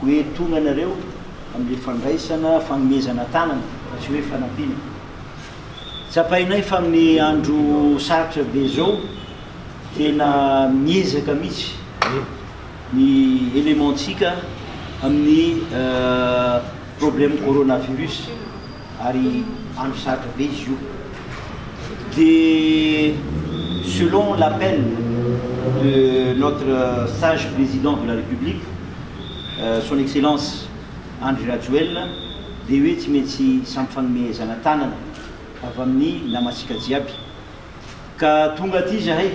Ho entona anareo amin'ilay fandraisana fanomezana tanana fa tsy hoe fanampiana. Tsapainay fa amin'ny andro sarotra be izao, tena miezaka mihitsy ny élément-ntsika amin'ny problème coronavirus. ary andro sarotra be izy io de selon l'appel de notre sage président de la république son excellence Andry Rajoelina de hoe tsy maintsy hisampy fanomezana tanana avy amin'ny namantsika jiaby. Ka tonga aty zahay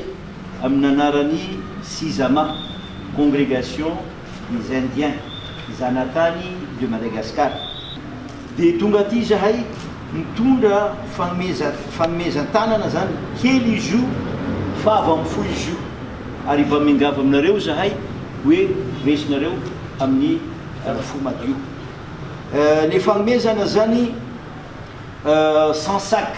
amin'ny anaran'i Sizama, Congregation des Indiens, Zanatany de Madagascar, dia tonga aty zahay mitondra fanomeza fanomezan-tanana zany kely izy io fa avy amin'ny fo izy io, ary mba miangavy aminareo zahay hoe resinareo amin'ny fo madio ny fanomezana zany cent sacs.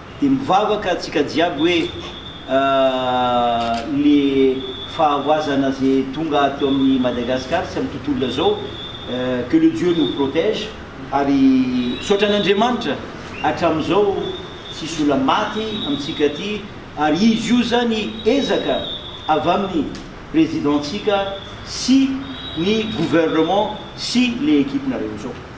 Dia mivavaka antsika jiaby hoe le fahavoazana ze tonga ato amin'ny Madagascar sy amin'ny tontolona zao que le Dieu nous protège ary misaotra an'Andriamanitra hatramin'izao tsisy ola maty amintsika aty ary izy io zany ezaka avy amin'ny President-tsika sy ny Gouvernement sy le equipe-nareo zao.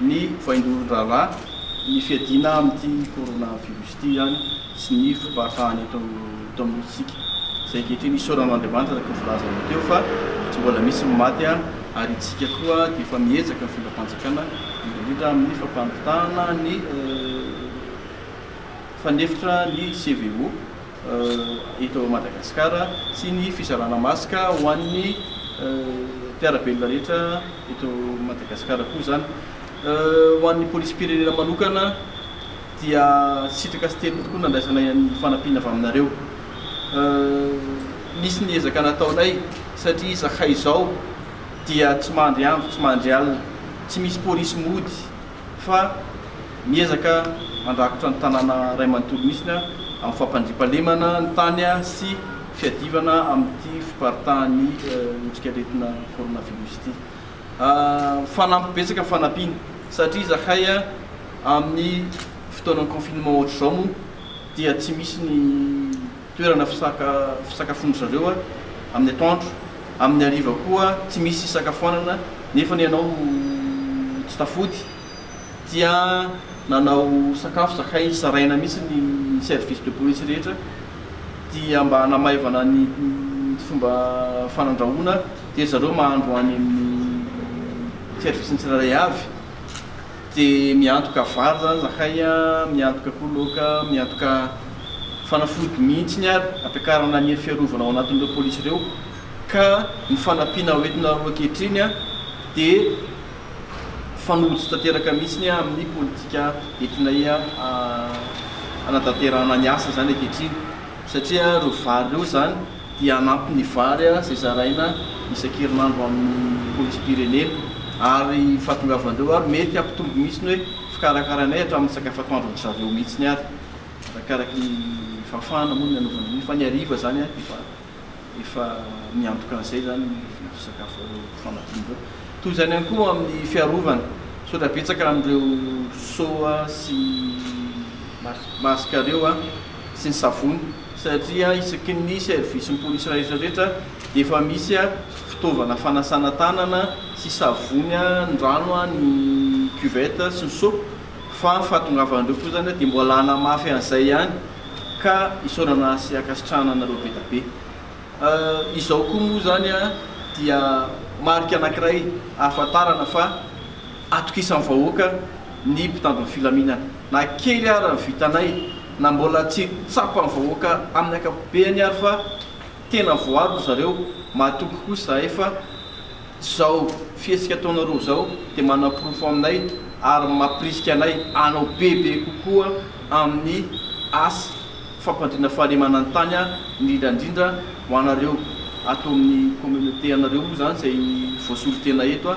ny vaindohan-draharaha, ny fiadiana amin'ity coronavirus ity ihany sy ny fompahafahana eto eto amin'ny nosintsika, izay ankehitriny isaorana an'Andriamanitra araka ny voalazanao teo fa tsy mbola misy ny maty ary isika koa dia efa miezaka mitondra fanjakana indrindra amin'ny fampamitahana ny fanefitra ny CVO. eto Madagasikara sy ny fizarana masque ho an'ny mpiara-belona rehetra eto Madagasikara koa izany. Ho an'ny polisim-pirenena manokana dia sitraka sy teriny tokoa nandraisanay ny fanampiana avy aminareo. Nisy ny ezaka nataonay satria izahay izao dia tsy mandry andro tsy mandry alina, tsy misy polisy mody, fa miezaka mandrakotra ny tanàna iray manontolo misy ny amin'ny fampandriampahalemana ny tany sy fiadivana amin'ity fiparitahan'ny otrikaretina coronavirus ity. Fanampy betsaka ny fanampiana satria izahay amin'ny fotoanan'ny confinement ohatr'izao moa dia tsy misy ny Toerana fisaka fisakafoan-dry zareo amin'ny atoandro, amin'ny hariva koa tsy misy hisakafoanana nefa ny anao tsy tafody dia nanao sakafo zakay zaraina mihitsy ny service de police rehetra dia mba hanamaivana ny fomba fanandrahoana dia ry zareo mahandro any amin'ny service ny tsirairay avy. Te miantoka vary zany zahay a, miantoka koa laoka, miantoka fanafody mihitsiny ary ampiakarana ny hery fiarovana ao anatin'ireo polisy ireo ka ny fanampiana hoentinareo ankehitriny a dia fanojo tanteraka mihitsiny a amin'ny politika entinay a hanatanterahana ny asa izany ankehitriny satria ireo vary ireo izany dia hanampy ny vary izay zaraina isan-kerinandro amin'ny polisim-pirenena ary ny fahatongavan'ireo ary mety hampitombo mihitsy ny hoe fikarakaranay hatramin'ny sakafo atoandron'ny zareo mihitsy ary arakaraky ny fahafahana moa ny hanaovana an'io fa ny hariva izany efa efa miantoka an'izay izany ny vidin'ireo sakafo fanampiana ireo. Toy izany ihany koa amin'ny fiarovana. Misaotra betsaka an'ireo soa sy masque ireo. sy ny savony satria isaky ny servisin'ny polisy rahetra rehetra dia efa misy fitaovana fanasana tanana sy savony ny rano ny cuvette sy ny seaux fa ny fahatongavan'ireo koa izany dia mbola hanamafy an'izay ihany ka isaorana sy ankasitrahana anareo be dia be izao koa moa izany dia marika anankiray ahafantarana fa atokisan'ny vahoaka ny mpitandro ny filaminana. Na kely ara ny vitanay, na mbola tsy tsapan'ny vahoaka amin'ny ankapobeany ary fa tena voaro ry zareo, mahatoky kosa zahay fa zao fihetsika ataonareo zao dia manaporofo aminay ary mampirisika anay hanao bebe kokoa amin'ny asa fampandriana fahalemana ny tany indrindra indrindra ho anareo ato amin'ny communauté anareo moa zany izay voasolo tena eto